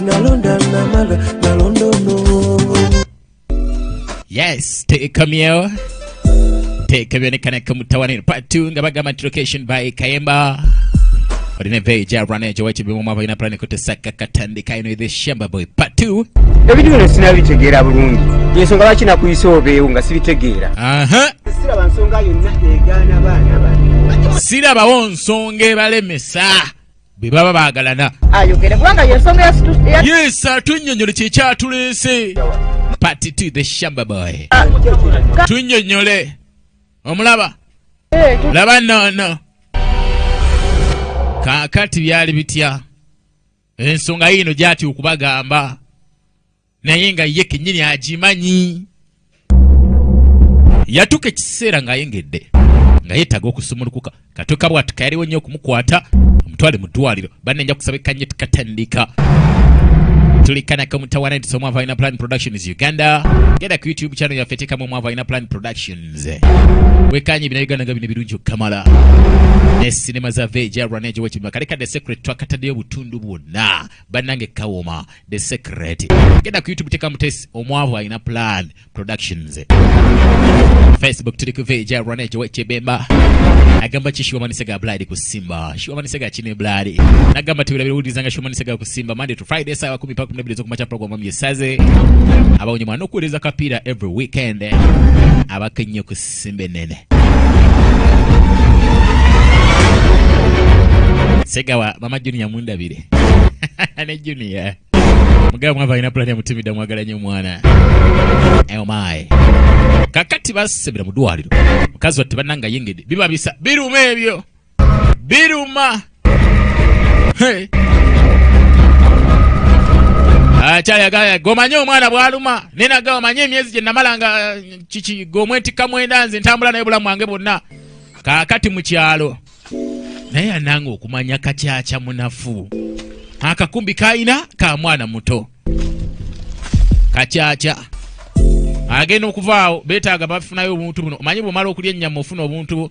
nalonda namala nalonda ono yes tekamyeo tekebyonekaneka kamutawaniro part 2 nga bagamba nti location by kayemba olina eveeyo gya rwanejo wakibimumu abalina pulani kutesaka katandika ino the shamba boy part 2 ebintu bino sinabitegeera bulungi yensonga lwaki nakuyisa obeewo nga sibitegeera siraba nsonga yonna egaana baana bani sirabawo nsonga ebalemesa bwe baba baagalana ayogere kubanga yensonga yesu atunyonyole kyekyatuleese party to the shamba boy ah, tunyonyole omulaba eh, laba nono kakati byali bitya ensonga yiino gyati okubagamba naye nga ye kenyini agimanyi yatuuka ekiseera ng'ayengedde nga yeetaaga okusumulukuka katuuka bwati kayaliwo nnyo okumukwata omutwale mu ddwaliro banenja kusaba ekanye tukatandika tulikanako mutawana nti somwava alina plan productions uganda genda ku youtube channel yaffe teekamu omwava alina plan productions wekanye bina uganda nga bino birungi okukamala ne sinema za veja rwanejowekibimakale kadde secret twakataddeyo obutundu bwonna banange kawoma the secret genda ku youtube teka mutesi omwavu alina plan productions facebook tuli ku veja rwana ejo wekibemba agamba ki shiwamanise ga bladi ku simba shiwamanise ga kine bladi nagamba tubirabira uwuliza nga shiwamanise ga ku simba monday to friday sawa kumi paka kumnabiri zo kumacha programu myesaze abawonye mwana okuweleza kapira every weekend abakenye ku Simba enene. Segawa mama Junior mundabire. ne Junior. Mugabo mwava alina pulani ya mutimida mwagala nnyo omwana. Oh my. Kakati basembera mu ddwaliro. Mukazi watte bannanga yengedde. Bibabisa biruma ebyo. Biruma. Hey. akyayagala gomanye omwana bwaluma nenaga omanye emyezi gye namala nga eh, kiki gomwetikka mwenda nze ntambula naye bulamu wange bwonna kaakati mu kyalo naye ananga okumanya kakyakya munafu akakumbi kalina ka mwana muto kakyakya agenda okuvaawo betaaga bafunayo obuntu buno omanyi bwomala okulya ennyama ofuna obuntu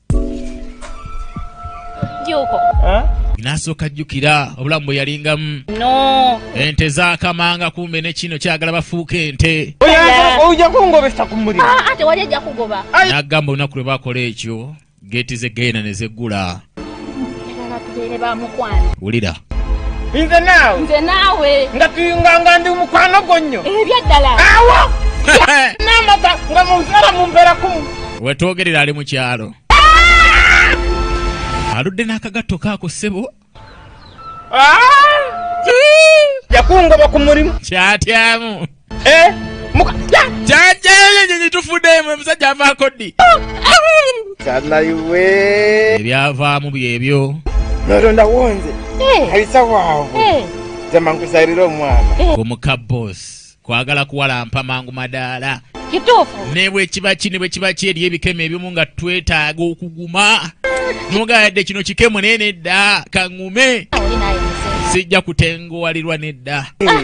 Juko. Eh? Nasooka jjukira obulamu bwe yalingamu no. ente zakamanga kumbe ne kino kyagala bafuuka ente oja kungobesa ku muliro ah, ate wali ajja kugoba n'agamba olunaku lwe bakola ekyo geeti z'eggeyena ne zeggula wulira nze naawe nze naawe nga tuyunganga ndi mukwano gwo nnyo ebyaddala eh, awo n'amata nga munzala mumbeera kumu wetwogerera ali mu kyalo ah! aludde n'akagatto kaako ssebo ah! yakungoba ku mulimu kyatyamu Eh, muka ya jaja yenyenye tufude mwe musajja avako ddi kana iwe ebyavaamu byebyo nolo ndawonze eh. alisa wavu eh. zama nkusarira omwana omuka boss kwagala kuwalampa mangu madaala kituufu ne bwe kiba ki ne bwe kiba ki eri ebikemo ebimu nga twetaaga okuguma nogayadde kino kikemo naye nedda kaŋume sijja kutenguwalirwa nedda ah.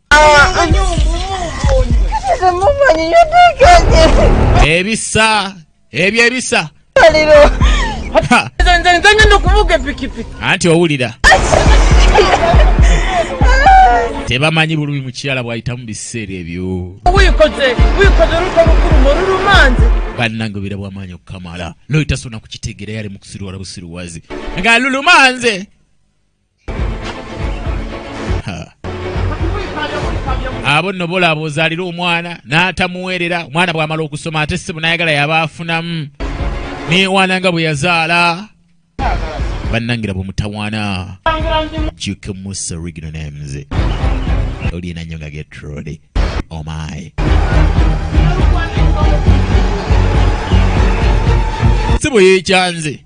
ebisa ebyo ebisa anti owulira tebamanyi bulumi mukyala bwayitamu biseera ebyo banange obera bwamaanyi okukamala noyitasoona kukitegeera yali mukusiruwala busiruwazi nga lulumanze abo nno bolaaba ozaalira omwana n'atamuweerera omwana bw'amala okusoma ate ssebo n'ayagala yaba afunamu neewaana nga bwe yazaala bannangira bwe mutawaana juke musa original names olina nnyo nga getrode omaye oh ssebo yeekyanze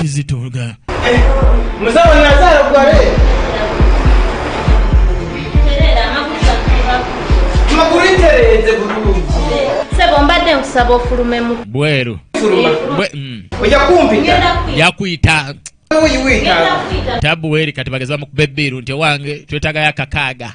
kizitoga sebo mbadde nkusaba ofulumemu bweru mm. yakuyita tabu weri kati bageza bamukuba ebbiiru nti owange twetagayo akakaaga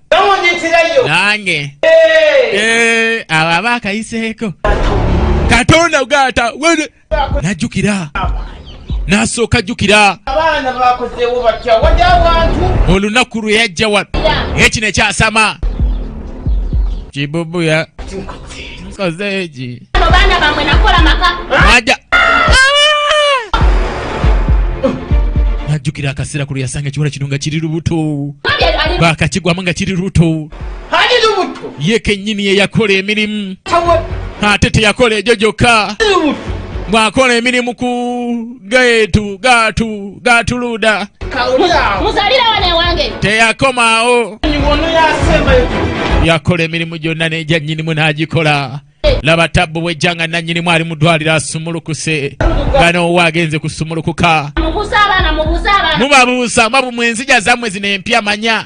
nange eh, abo aba akayiseeko katonda gata najjukira nasooka ajjukira olunaku lwe yajja wano ekino ekyasama kibubuya Kozeji. Bana bamwe nakola maka. Maja. Najukira akasira kulu yasanga kiwala kino nga kiri lubuto. Bakakigwamu nga kiri lubuto. Hali lubuto. Ye kenyini ye yakola emirimu. Ate teyakola egyo gyokka. Bwakola emirimu ku geetu gaatu gaatuluda muzalira wana ewange teyakomaawo yakola emirimu gyonna n'egya nnyinimu n'agikola laba tabbu bwejja nga nannyinimu ali mu ddwaliro asumulukuse nga noowa agenze kusumulukuka mubabuusa mwabu mwenzija zammwe zino empya manya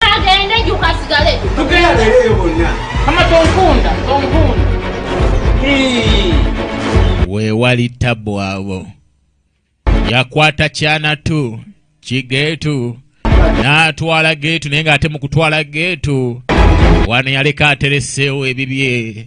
agende juka asigale tugenda beereyo bonna ama tonkunda tonkunda weewali tabbu abo yakwata kyanatu kigeetu n'atwala geetu naye ng'ate mu kutwala geetu wano yaleka atereseewo ebibye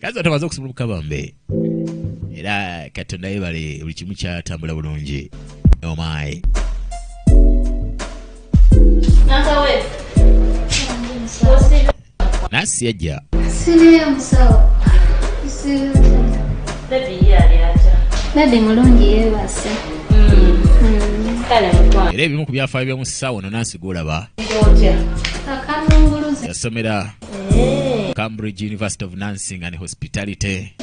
kazi atamaze okusimula obukabambe era katonda yebale buli kimu kyatambula bulungi omayi nasi yajja bebi mulungi yebase era ebimu ku byafaayo byomusawo no nansi golaba yasomera Cambridge University of Nursing and Hospitality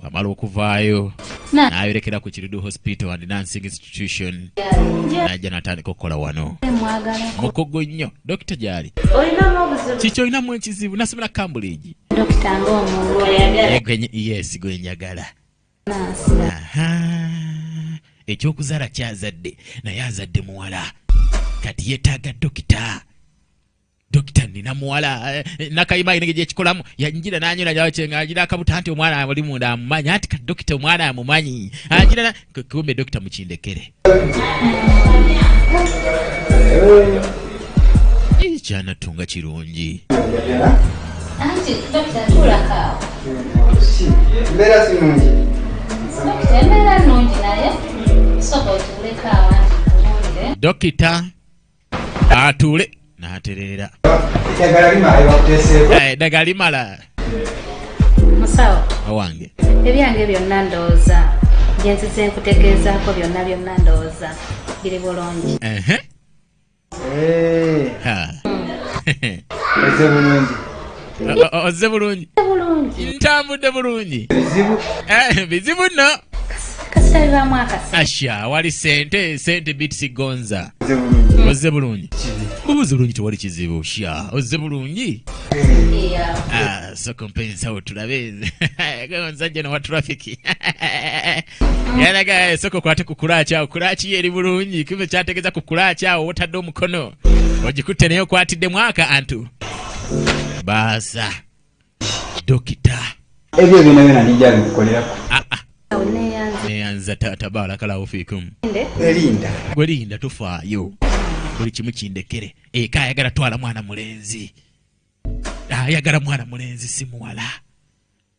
wamala okuvaayo n'ayolekera ku Kirudu Hospital and Nursing Institution n'ajja n'atandika okukola wano mukugu nnyo dokita gyali kiki olinamu ekizibu nasomera Cambridge yes gwe njagala ekyokuzaala kyazadde naye azadde muwala kati yetaaga dokita dokita nina muwala eh, eh, nakayima ayina engeri gyekikolamu yanjira nanyola nyawo kyenga agira akabuta nti omwana ali munda amumanyi anti ka dokita omwana amumanyi agira kumbe dokita mukindekere kyanatunga kirungi dokita atuule n'atereera eddagala limala eh, musawo owange ebyange byonna ndowooza byenzize nkutegeezaako byonna byonna ndowooza biri bulungi eh. eze bulungi ozze bulungi ntambudde bulungi bizibu eh, nno asha wali sente sente bitisi gonza ozze bulungi bubuzi bulungi tewali kizibu sha ozze bulungi ah, sokompensawo tulabe omusajja nowa trafiki yalaga esoko kwate ku kulaaci awo kulaaci ye eri bulungi kiva kyategeeza ku kulaaci awo wotadde omukono ogikutte naye okwatidde mwaka antu baasa dokita ebyo byona byona nijja bikukolerako ah, ah. neyanza taata baalakalawo fiikum elinda gwe linda tofaayo buli kimu kindekere eka ayagala twala mwana mulenzi ayagala mwana mulenzi si muwala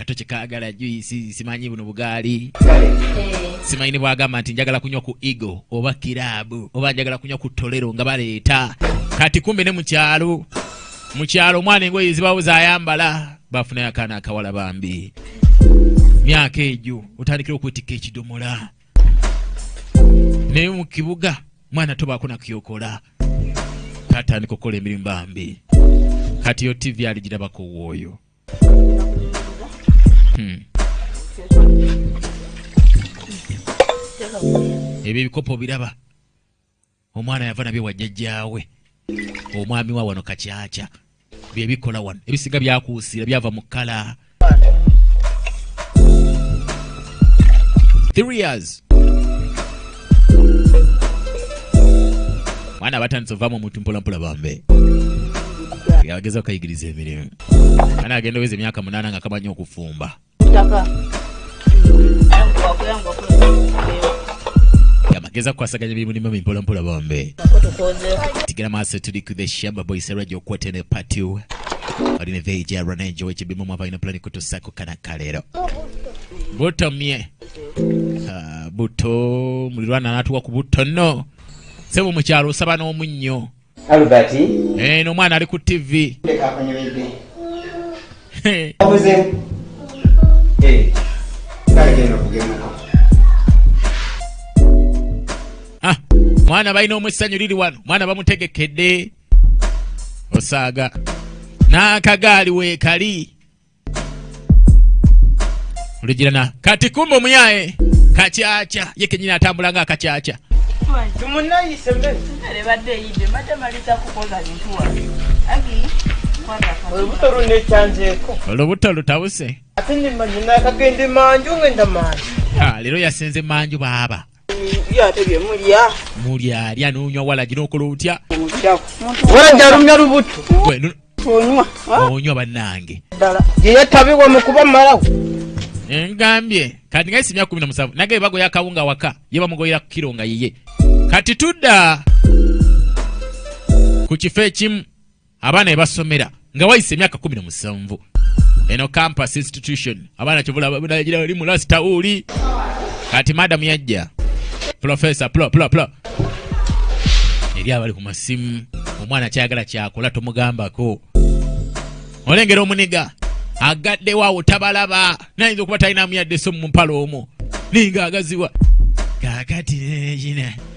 kato kyekagala juisi simanyi buno bugaali simanyi nebwagamba nti njagala kunywa ku ego oba kiraabu oba njagala kunywa ku tolero nga baleeta kati kumbe ne mukyalo mukyalo omwana engoye zibawo zayambala bafunayo akaana akawala bambi myaka egyo otandikira okwetikka ekidomola naye mu kibuga mwana tobaako nakyokola katandika okukola emirimu bambi kati yo tivi aligirabako wooyo Hmm. ebyo ebikopo biraba omwana yava nabyo wajjajjaawe omwami wa wano kakyakya byebikola wano ebisinga byakuusiira byava mu kala mwana abatandise ovaamu omuntu mpolampola bambe yageza okayigiriza emirimu Ana agenda weze myaka munana nga kamanyi okufumba. Taka. Yamageza kwasaganya bimu ni mami mpola mpola bombe. Tigera maso tuli ku the shamba boy sera jo kwete ne party. Odi ne veje ya rana enjoy chi bimu mwapa ina plani kutu sako kana kalero. Buto mie. Uh, buto mulirwana natuwa kubuto no. Sebo mcharo saba no munyo. Albert. Eh, no mwana ali ku TV. Leka kunyumide. Obuze. Eh. Kale genda kugenda. Ah, mwana bayina omwesanyu lili wano. Mwana bamutegekedde. Osaaga. N'akagaali weekali. olugirana kati kumba omuyaye kakyakya ye kenyini atambula nga akakyakya olubuto lutabuse ah, leero yasenze manju baaba mulya alya nonywa walagi nokola otya alumya lubutu onywa banange yeyatabiwa mukuba malawo ngambye kati ngaisi myaka kumi na musanvu nage bagoya akawunga waka ye bamugoyera ku kiro nga yiye kati tudda ku kifo ekimu abaana ebasomera nga wayise emyaka kumi na musanvu eno campus institution abaana kyovulaali mu last tauli kati madamu yajja profesa plo plo plo eri abali ku masimu omwana kyagala kyakola tomugambako olengera omuniga agaddewo awo tabalaba nayinza okuba talinamu yadde so mu mpala omu ninga agaziwa kakati neyina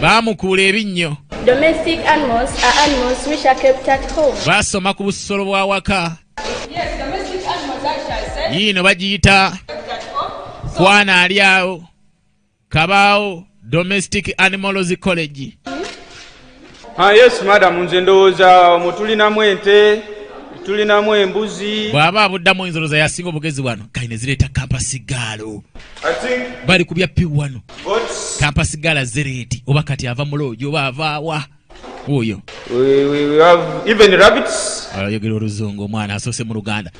baamukuula ebinnyo baasoma ku busolo bw'awaka yiino bagiyita kwana ali awo kabaawo domestic animals college Ah, yes madamu nze ndowooza omwo tulinamu ente tulinamu embuzi bw'aba abuddamu oyinza olowooza yasinga obugezi wano kali ne zireeta kampasigaalo bali ku bya pi wano kampasigaala zereeti oba kati ava mu loogi oba avaawa oyo ayogera oluzungu omwana asoose mu luganda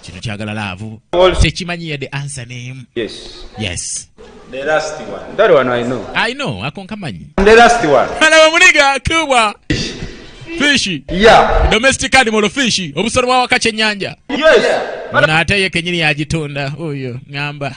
kino kyagala laavu tekimanyi yadde ansa name yes yes The last one. That one I know. I know. Ako nkamanyi. The last one. Ana wamuniga kubwa. Fishi. Yeah. Domestic animal fishi. Obusoro wa wakati nyanja. Yes. Mwana ate ye kenyini ya jitunda. Uyo. Ngamba.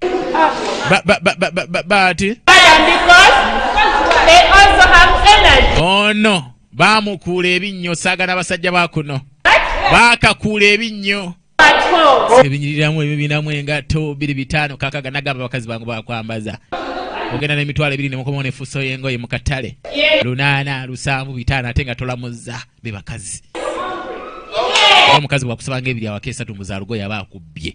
But, but, but, but, but, but. Because they also have energy. Oh no. baamukuula ebinnyo saagana basajja ba kuno baakakuula ebinnyo ebinyiriramu ebibinamu engatto biri bitaano kakaga nagamba abakazi bangu bakwambaza ogenda n'emitwalo ebiri nemukomawo nefuso yengoye mu katale lunaana lusanvu bitaano ate nga tolamuzza be bakazi omukazi bwakusabanga ebiri awaka esatu muzaalugoye aba akubbye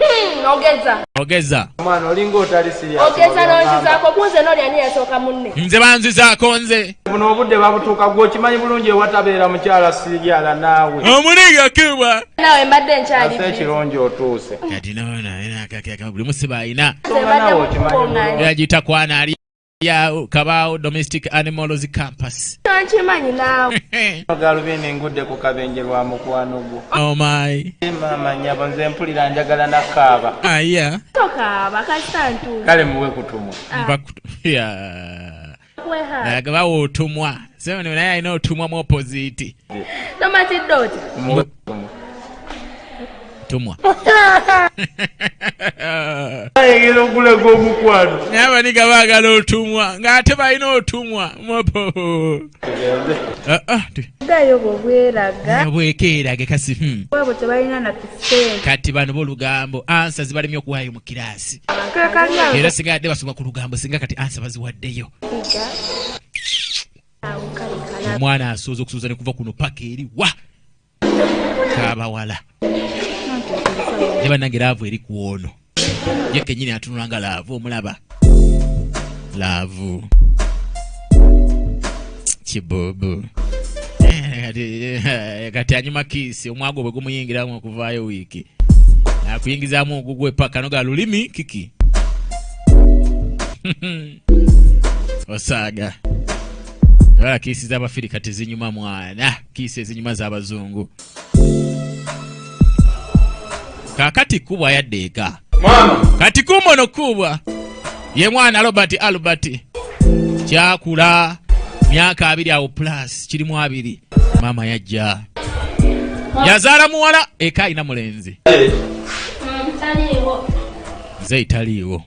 Hmm, ogeza ogeza omwana olinga otali siriya ogeza n'onzizaako kunze n'oli ani yasooka munne nze banzizaako nze buno obudde babutuuka gwe okimanyi bulungi ewatabeera mukyala siriala naawe omuliga kibwa naawe mbadde nkyali ase ekirungi otuuse kati noona buli musiba alina yagita kwana ali ya kabaawo domestic animals campus nkimanyi naawe galubindi engudde ku kabenje lwa mukwano gwo omayi oh maama nyabo nze mpulira njagala nakaaba aya ah, tokaaba kasita ntuuka kale muwe kutumwa ah. naye bawa otumwa sebe naye alina otumwa mu opoziti tomatidde oti tumwa ayegera okulaga omukwano naye abaniga baagala otumwa ng'ate balina otumwa ah, ah, bwekeerage kasi hmm. kati bano bolugambo ansa zibalemi okuwaayo mu kiraasi era singa yadde basoma ku lugambo singa kati ansa baziwaddeyo omwana asooza okusuuza ne kuva kuno paka eri wa kabawala ne bannange laavu eri ku ono ye kenyini atunula nga laavu omulaba laavu kibubu eh, kati anyuma kiisi omwago bwe gumuyingiramu okuvaayo wiiki akuyingizamu ogugwe paka noga lulimi kiki osaaga wala kiisi z'abafirika tezinyuma mwana kiisi ezinyuma z'abazungu kakati kubwa yadde eka kati kumono kubwa ye mwana robert albert kyakula myaka abiri awo plus kirimu abiri maama yajja yazaala muwala eka alina mulenzi nze italiiwo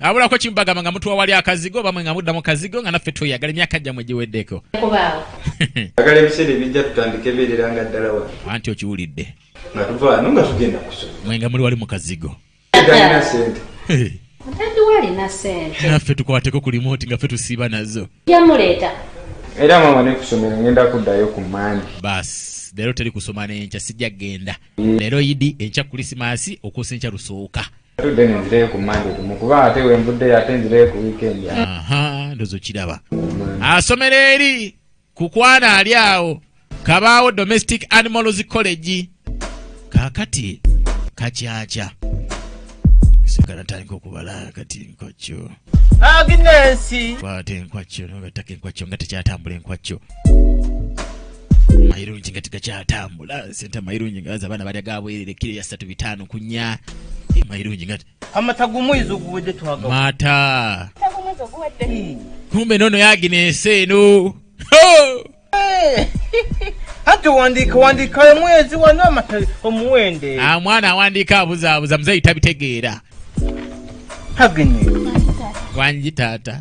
abulako kimu bagamba nga mutuwa wali akazigo oba mwe nga mudda mu kazigo nga naffe tweyagala emyaka gyammwe giweddeko agala ebiseera ebijja tutandika ebeerera nga ddala wa anti okiwulidde nga tuvaano nga tugenda kusoma mwe nga muli wali mu kazigo galina sente tadiwalina sente naffe tukwateko ku limoti nga ffe tusiiba nazo yamuleeta era mama nekusomera ngenda kuddayo ku mandi basi leero teri kusoma nenkya sijja kugenda leero idi enkya kulisimasi okuusa enkya lusooka Tudde ne nzireyo ku Monday kumu kuba ate we nvuddeyo ate nzireyo ku weekend. Aha, ndozo kiraba. Asomera eri ku kwana ali awo kabaawo domestic animals college kakati kakyaca sigala tandika okubala kati nkokyo Agnesi. Kwate enkwaccio no gatake enkwaccio nga tekyatambula enkwaccio. Mayirungi nga tekyatambula sente mayirungi nga za bana balya gabwerere kiri ya satu bitano kunya. Eh, mayirungi nga amata gumwizo guwedde twaga. Mata. Kumbe nono yaginese no. anti wandiika wandiika omwezi wano amatali omuwende ah, omwana awandiika abuzaabuza muzeeyi tabitegeera hagenye wangi taata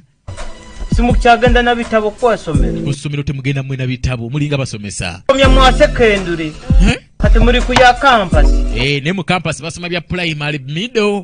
simukyagenda na bitabo kwasomera ku ssomero temugenda mwena bitabo mulinga basomesa omya mwasekendule kati muli ku ya kampasi eh, ne mu kampasi basoma bya pulayimale middle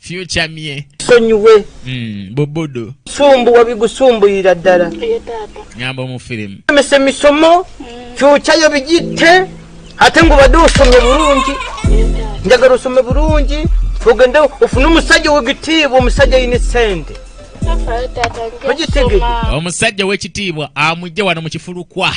future mye sonyiwe mm, bobodo sumbu wabigusumbuyira ddala nyamba omufirimu emese misomo future yo bigitte ate ngo bade osome bulungi njagala osome bulungi ogende ofune omusajja wegitiibwa omusajja yine sente omusajja wekitiibwa amujje wano mukifulukwa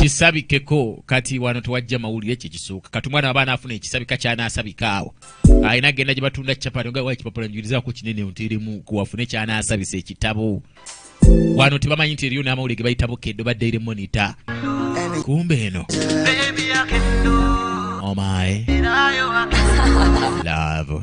kisabikeko kati wano tewajja mawulire kye kisooka kati omwana wabaana afuna ekisabika kyanaasabika awo alina agenda gye batunda capati nga waki papula njulizako kinene nteremu kuwafune kyanaasabisa ekitabo wano tebamanyi nti eriyo n'amawulire ge bayita bukeddo ba daily monitor kumbe eno omae oh love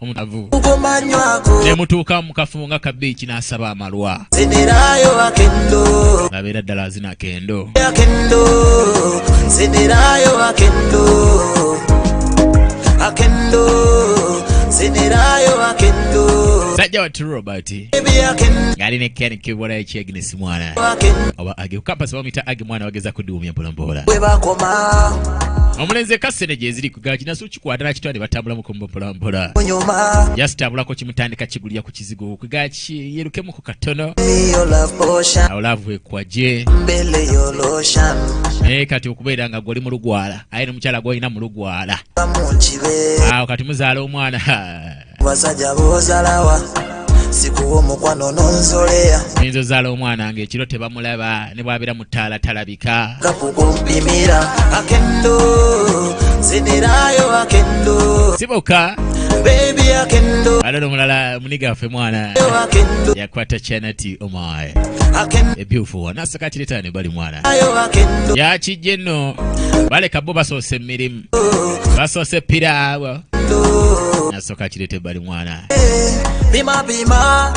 omutavu nemutuuka mukafumu nga kabiiki n'asaba amalwa abeera ddala azina kendo sajja wati robert ng'ali ne ken kibula ekyegnes mwana oba age kukampasi bamuyita age mwana bageza kudiwumya mpolampola omulenzi ekassene gyeziri kugakinasu kikwata nakitwa ne batambula mukombo mpolampola yasitabulako kimutandika kigulira ku kizigo kwiga kiyerukemu ku katono awo laavu ekwaje naye kati okubeera nga gwoli mulugwala aye nomukyala gwolina mulugwala awo kati muzaala omwana basajja bozalawa sikuwa omukwano nonzoleya oyinza ozaala omwana nga ekiro tebamulaba ne bwabeera mu ttaala talabika kakukumpimira akendo zinirayo akendo siboka bebi akendo alala omulala muniga waffe mwana yakwata chanati omaye ebyufu wona asakatiretane bali mwana yakijje nno baleka bo basoosa emirimu basoose piraawo nasooka kireeta ebbali mwana pima pima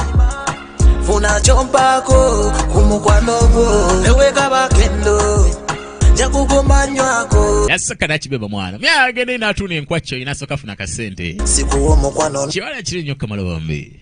funa kyompaako ku mukwano gwo ewekabakendo yasaka nakibeba mwana myagende natuuna enkwakyo inasoka funa kasente kibala kiri nyo kamala bombi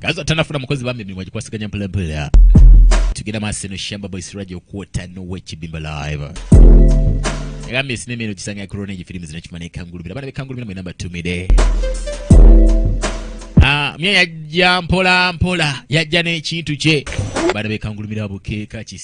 kaza tanafuna mukozi bambi emirimu agikwasiganya mpolampola tugenda maaso eno shamba boy siraja okuwota nowekibimba live agambye sinema eno kisanga yakorona egyo firimu zino kimana ekangulumira abaana bekangulumira mwena mbatumire ah, mye yajja mpola mpola yajja n'ekintu kye baana bekangulumira bukeeka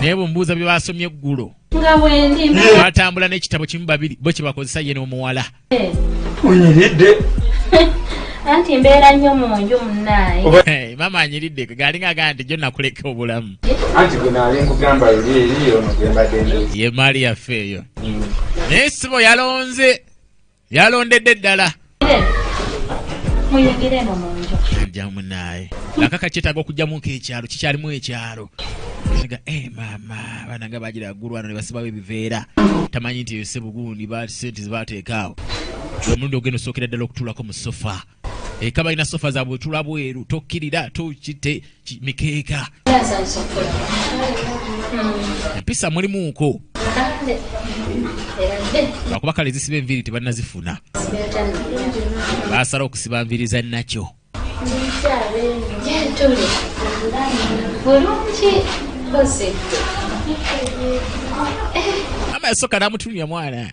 naye bwemubuuza bye basomye eggulo batambula n'ekitabo kimu babiri bo kyebakozesa ye n'omuwala onyiridde anti mbeera nnyo mu nju munaaye eh, maama anyiridde galinga agaa nti jo nakuleka obulamu anti gwenali nkugamba eri eri ono gwembadde ye maali yaffe eyo mm. naye sibo yalonze yalondedde ddala jamunaye akaka kyetaaga okujjamuko ekyalo kikyalimu ekyalo ga e eh, maama abaana nga bagira agulwano ne basibawo ebiveera tamanyi nti ese bugundi sente zibateekaawo omulundi ogenda osookera ddala okutulako mu sofa eka balina sofa zabwe tula bweru tokkirira tokite mikeeka empisa mulimuuko lwakuba kale ezisiba enviiri tebanazifuna basala okusiba nviiri za nakyo ama yasooka namutunya mwana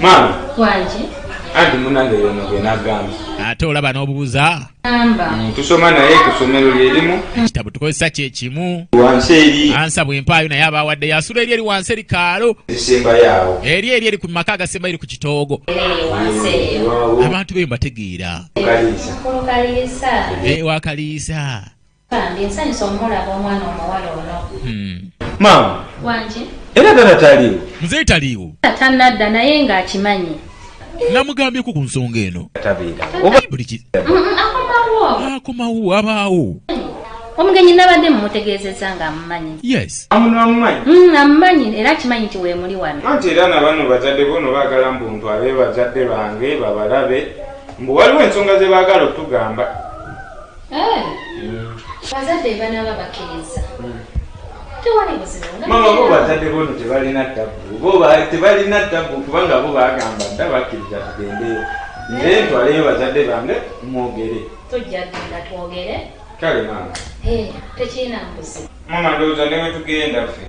maama wangi anti munange yono gwe nagamba ate olaba n'obubuza mm, tusoma naye ku ssomero lyerimu ekitabo tukozesa kyekimu wansi eri ansa bwempaayo naye aba wadde yasula eri eri wansi eri kaalo esembayaawo eri eri eri ku maka agasemba eri ku kitoogo abantu beyo mbategeera wakaliisa eh, Bambi nsanyuse omulaba omwana omuwala ono. Maama. Wangi. Era tata taliwo. Mzee taliwo. Tata nadda naye nga akimanyi. Namugambye ku kunsonga eno. Tabeera. Oba buli ki. Akomawo. Akomawo abaawo. Omugenyi nabadde mumutegeezezza nga amumanyi. Yes. Amuno amumanyi. Mm, amumanyi era akimanyi nti weemuli wano. Anti era nabano bazadde bo no baagala mbu ntwale bazadde bange babalabe mbu waliwo ensonga ze baagala okutugamba. Eh. Mm. bazadde banaaba bakkiriza mm. tewali buzimama bo bazadde bono tebalina tabu bo tebalina tabu kubanga bo bagamba dda bakkiriza tugendeyo nze eh. ntwaleyo bazadde bange mwogere tojja genda twogere kale maama eh, tekirina mbuzi mama ndowooza newetugenda ffe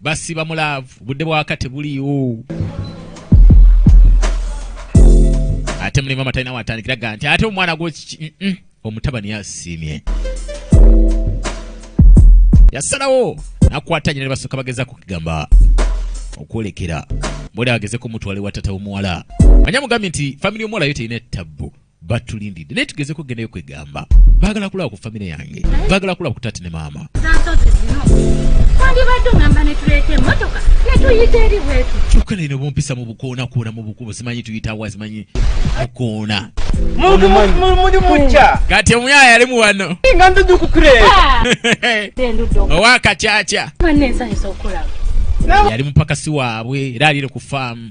basiba mu laavu budde bwaka tebuliiwo ate muli mama talina watandikira ga nti ate omwana gwo omutabani yasiimye yasalawo nakwata nyina ne basooka bageza kukigamba okwolekera bwoli agezeko mutwale wa tata omuwala manya mugambi nti famili omuwala yo terina ettabbu batulindidde naye tugezeko gendayo kwegamba bagala kulaba ku famire yange bagala kulaba ku tati ne maama kyokka naye nobumpisa mu bukoonakoona mu bukubo simanyi tuyitawa simanyi bukoona kati omuyaya yalimu wano owakakyakya yali mupakasi waabwe era aliire ku faamu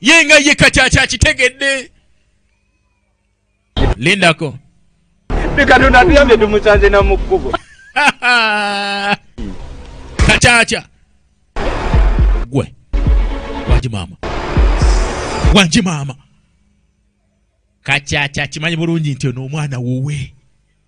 ye nga ye kati akyakitegedde lindako katonda atuyambye tumusanze na mu kkubo kakyakya gwe wangi maama wangi maama kakyakya kimanyi bulungi nti ono omwana wuwe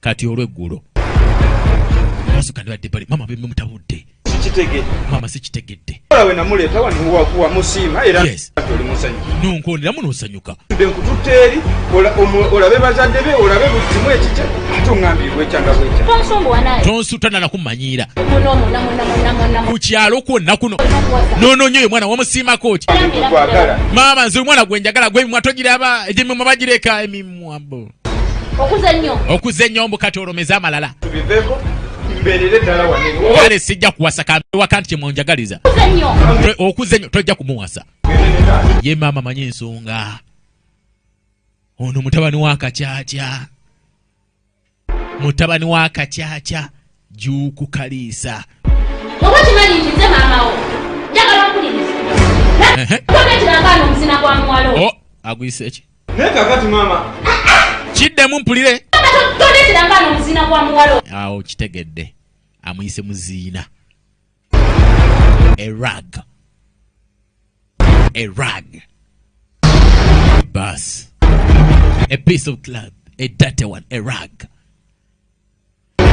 kati olweggulo abasuka ne badde bali mama bemutabudde mama sikitegedde nonkoneramu nosanyuka nkututte eri olabe bazadde be olabe buli kimu ekikya ate ongambye bwekyanga bwekya tonsuutana nakumanyiira ku kyalo kwonna kuno nononya oyo mwana wamusiimako ki maama nze omwana gwenjagala gwemimwa togiraba emimwa bagireka emimwa bo okuza enyombo kati olomeze amalala kale sijja kuwasa kambewaka nti kyemwenjagaliza okuza enyo tojja kumuwasa ye maama manyi ensonga ono mutabani wa kakyakya mutabani wa kakyakya juuku kaliisa oba kimanyi nti nze maamawo njagala okuliriza aguyise eki Naye kakati maama. Kiddemu mpulire. Toleetera nga no muziina gwa muwalo. Awo kitegedde. Amuyise muziina. A rag. A rag. Bus. A piece of cloth. A dirty one. A rag.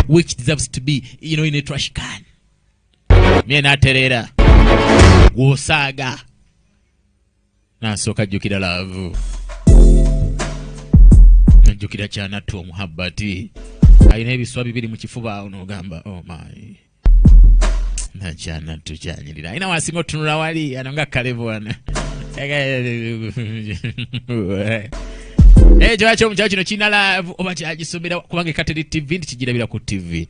Which deserves to be, you know, in a trash can. Mie naterera. Gwosaaga. Nasooka jjukira laavu. Najjukira kyanattu omuhabbati. Alina ebiswa bibiri mu kifuba onoogamba oh my. Nakyanattu kyanyirira. Alina wasinga otunula wali ano nga kalevu wano. Naye eh, kyaki omukyalo kino kirina laavu oba kyagisomera kubanga ekateri TV nti kigirabira ku TV.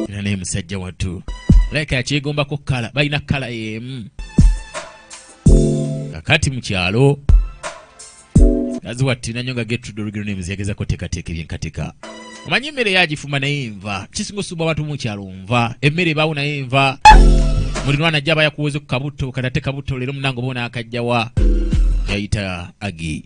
era naye musajja wattu like akyegombako kala balina kala yemu kakati mu kyalo kazi wattina nyo nga getrudorigiro naye muziyagezako tekateeka ebyenkateka omanyi emmere yagifuma naye nva kisinga osubwa abantu mu kyalo nva emmere ebaawo naye nva mulirwana ajja aba yakuwoze ku kabutto kati ate kabutto leero munange oba onaakajjawa yayita agi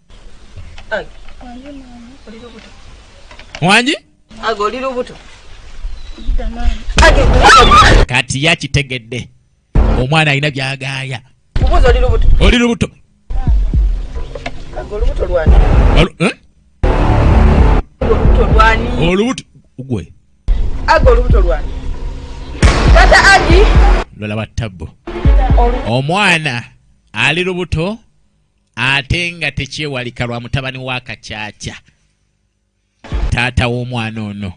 wangi kati yakitegedde omwana alina byagaaya oli lubuto olubuto gwe lola wa tabbu omwana ali lubuto ate nga tekyewalika lwa mutabani wa kakyakya taata w'omwana ono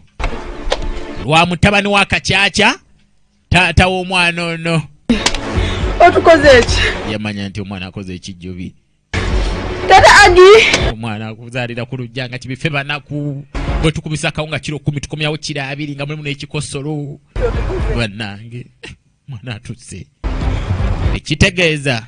lwa mutabani wa kakyakya taata w'omwana ono otukoze eki yamanya nti omwana akoze ekijjubi tata agi omwana akuzaalira ku lujja nga kibife banaku bwe tukubisa akawunga kiro kumi tukomyawo kiro abiri nga mulimu n'ekikosolo bannange mwana atuse ekitegeeza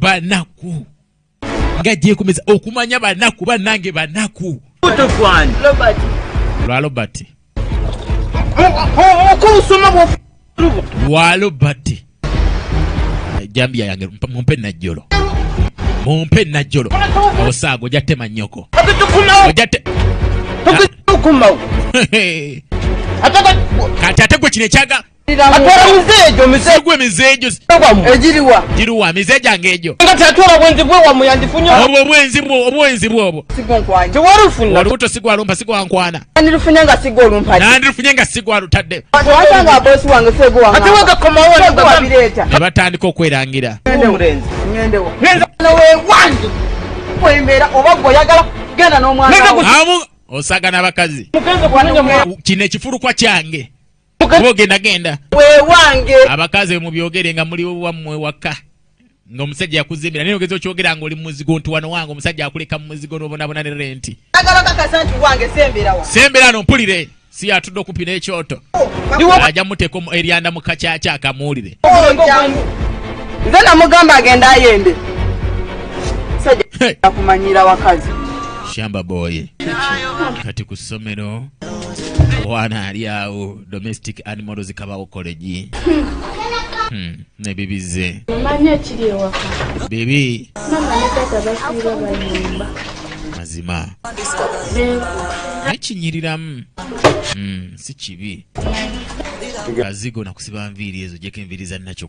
banaku nga gyekomeza okumanya banaku banange banaku lwa lobert lwa lobert ejambiya yange mumpe najjolo mumpe najjolo osaaga oja tema nyoko kati ate gwe kino ekyaga giriwa mize gyange egyo obwo obwenzi bwo obwenzi bwobwo olubuto sigwalumpa sigwankwana nandirufunye nga sigwa olumpanandirufunye nga sigwa lutadde ne batandika okwerangira osagana abakazi kino ekifulukwa kyange bogenda genda wewange abakazi mubyogere nga muli wammwe waka nga omusajja yakuzimbira naye ogeza okyogera nga oli muzigo nti wano wange omusajja akuleka mu muzigo n'obonabona ne renti sembera no mpulire si yatudde okumpi n'ekyoto oh, ajja muteeka eryanda mu kakyaki akamuwulire oh, nze namugamba agenda ayende sajja akumanyira wakazi shamba boy kati ku ssomero wana ali awo domestic animals kabawo college hmm, nebibize bibi mazima nekinyiriramu hmm, si kibi kazigo nakusiba nviiri ezo jeko enviiri zanakyo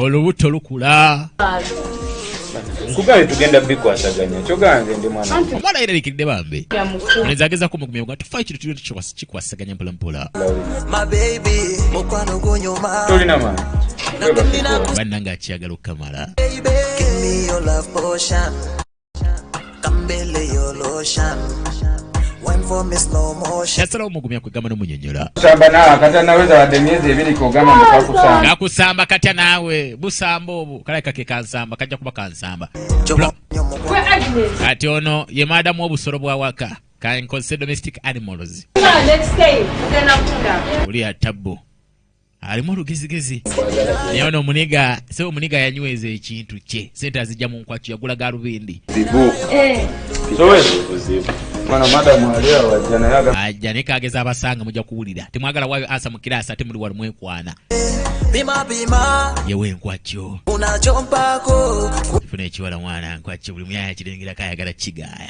olubuto lukula nkugambye tugenda bikwasaganya kyoganze ndi mwana omwana yeralikiridde bambi neza ageza kumugumya nga tufayo kintu tulina tukikwasaganya mpola mpola tolina maani bannange akyagala okukamala yasalawo omugumya kwegamba nomunyonyola nakusamba katya naawe busamba obwo kalabika ke kansamba kajja kuba kansamba kati ono ye maadamu obusolo bwawaka kankozese domestic animals oli atabbu alimu olugezigezi naye ono omuniga se omuniga yanyweza ekintu kye sente azijja mu nkwakyo yagula galubindi eh. ajja naye kageza abasanga mujja kuwulira temwagala wayo asa mu kiraasi ate muli wali mwekwana yewe enkwakyo funa ekiwala mwana nkwakyo buli muyaya kirengerako ayagala kigaaya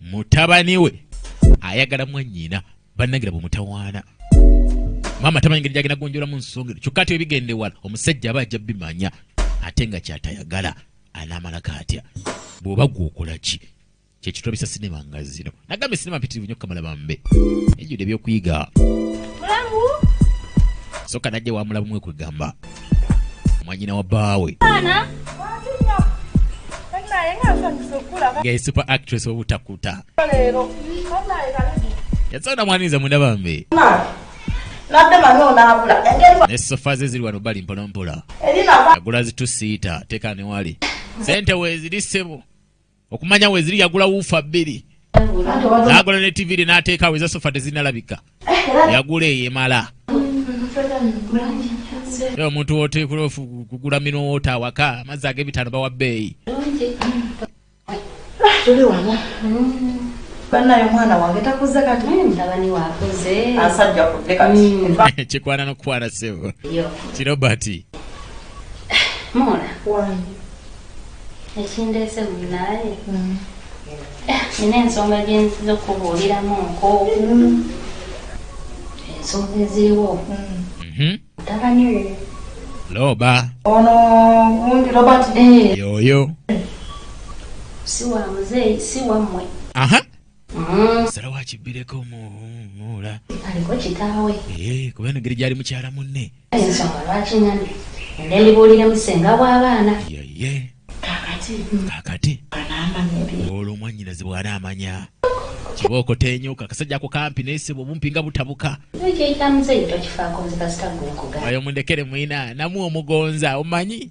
mutabani we ayagala mwannyina bannangira bwe mutawaana maama tamanyi ngeri gyagenda gonjolamu nsonga ezo kyokka ate ebigenda ewala omusajja aba ajja bimanya ate nga kyatayagala anaamalako atya bw'oba gwokola ki kyekitulabisa sinema nga zino nagamba esinema mpitirivu nyo kamala bambe ejjudde ebyokuyiga soka najja wamulabumu ekwegamba mwanyina wa bbaawe nga super actress obutakuta yasonda mwaniriza mwenda bambi ne sofa ze ziri wano bali mpolampola agula zitusiita teeka newali sente weeziri ssebo okumanya weziri yagula wuufa bbiri nagula ne tiviri nateekawo eza sofa tezinalabika yagula eyo emala e omuntu woteekula kugula minowoota awaka amazzi ag'ebitaano bawa bbeeyi tuli wano banaye omwana wange takuze kati mutabani wakuze asajja kude kati kikwana nokukwana sebo kirobati mona wange ekindeese munaaye mm. nina ensonga gyenziza okukubuuliramu nko mm. ensonga eziriwo mhm. mutabani we loba ono mundi robert eh. yoyo si wa muzeeyi si wammwe aha salawa kibbireko muula aliko kitaawe eh, kuba enogeri gyali mukyala munne ensonga lwaki nami ende ndibuulire musenga bw'abaana yeye kakati kakati olwo omwanyinazi bw'ana amanya kiba okotenyoka akasajja ako kampi naye sebo obumpi nga butabuka ayo mundekere mwina namu omugonza omanyi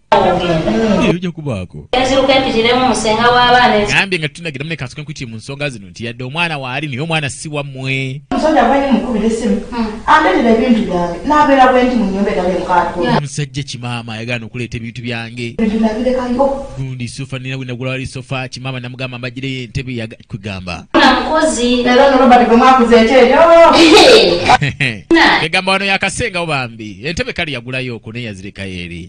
ojja kubaako enziruka empitiremu musenga w'abaana gambye nga tunagira mune kansoke nkuti mu nsonga zino nti yadde omwana waali naye omwana si wammwe omusajja bwali mukubira esimu hmm. andeetera ebintu byange n'abeera bwe nti mu nyumba etali mukaatu omusajja kimaama ayagaana okuleeta ebintu byange ebintu nabirekayo gundi sofa nina bwe nagula wali sofa kimaama namugamba mbagireyo entebe yakwegamba mukozi era no robert gwe mwakuza ekyeyo egamba wano yakasengawo bambi entebe kali yagulayo okwo neyazirekayo eri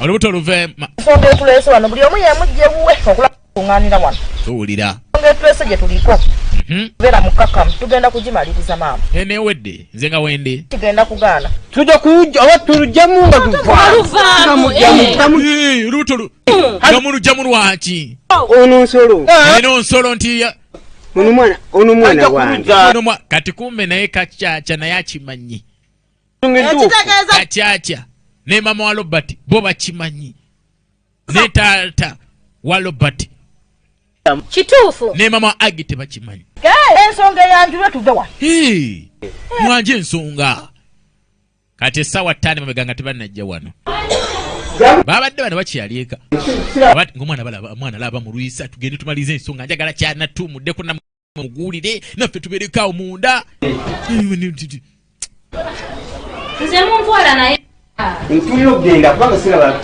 olubuto luve ensonga etuleese wano buli omu yemujje wuwe okulakuŋanira wano tuwulira ensonga etuleese gye tuliko mhm. beera mukkakamu tugenda kugimaliriza maama enewedde nze nga wende tugenda kugaana tuja kuja oba tulujjamu nga luvaluvalubuto nga mulujjamu lwaki ono nsolo eh. eno nsolo nti ono mwana ono mwana wange kati kumbe naye kacaca naye akimanyi ekitegeeza akyakya ne mama wa robert bo bakimanyi ne taata wa robert kituufu ne mama wa agi tebakimanyi ensonga eyanjulwe tuve wa mwanje ensonga kati essaawa ttaano mabega nga tebanajja wano babadde bano bakyalieka ngaomwana laba mulwisa tugende tumaliriza ensonga njagala kyanatuumuddeko muguulire naffe tuberekaawo munda nze muntwala naye ntulira okugenda kubanga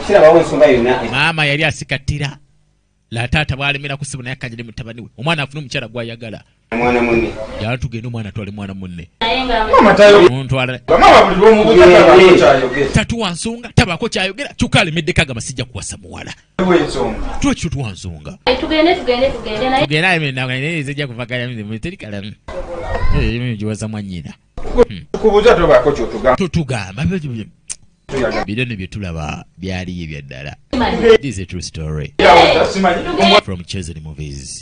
sirabawo ensonga yonna maama yali asikattira la taata bwalemera kusibu naye akanyire mutabani we omwana afune omukyala gwayagala yala tugende omwana atwale mwana munne tatuwa nsonga tabaako kyayogera kyokka alemeddeko agamba sijja kuwasa muwala twekyo twansonga tugendetugendetugendenayeezejja kuvagala mirimu teri kalamu emirimu giwaza mwanyina totugamba bino ne byetulaba byaliyo ebyaddala this is a true story from chosen movies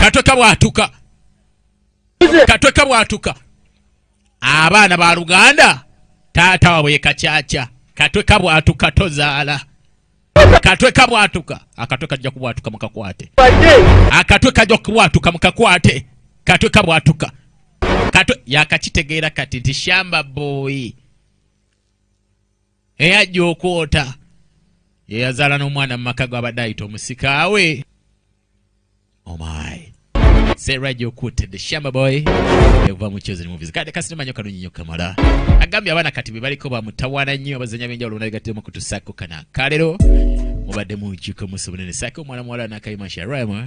katwe kabwatuka katwe kabwatuka abaana ba luganda taata wabwe yekacaca katwe kabwatuka tozaala akatwe kabwatuka akatwe kajja kubwatuka mukakwate akatwe kajja kubwatuka mukakwate katwe kabwatuka katwe yakakitegeera kati nti shamba boyi eyajja okwota yeyazaala n'omwana mu maka gwabadde ayita omusikaawe omai oh Sarah Jokutte the Shamba Boy okuva mu Chosen Movies. Kade kasina manyo kalunyi nyo kamala. Agambye abana kati be baliko ba mutawana nnyo abazanya benja oluna ligate mu kutusako kana. Kalero mubadde mu kiko musobonene sako mwana mwala na kayima Sharaima.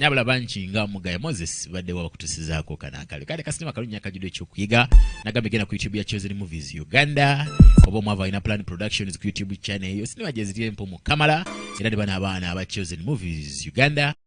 nyabula bangi nga mugaya moses badde wabakutusizaako kanakale kale kasinema kalunnya kajudo ekyokuyiga nagambye genda ku youtube ya chosen movies uganda oba omwava alina plan productions ku youtube channel eyo sinema gyeziri empumu kamala era ne bano abaana aba chosen movies uganda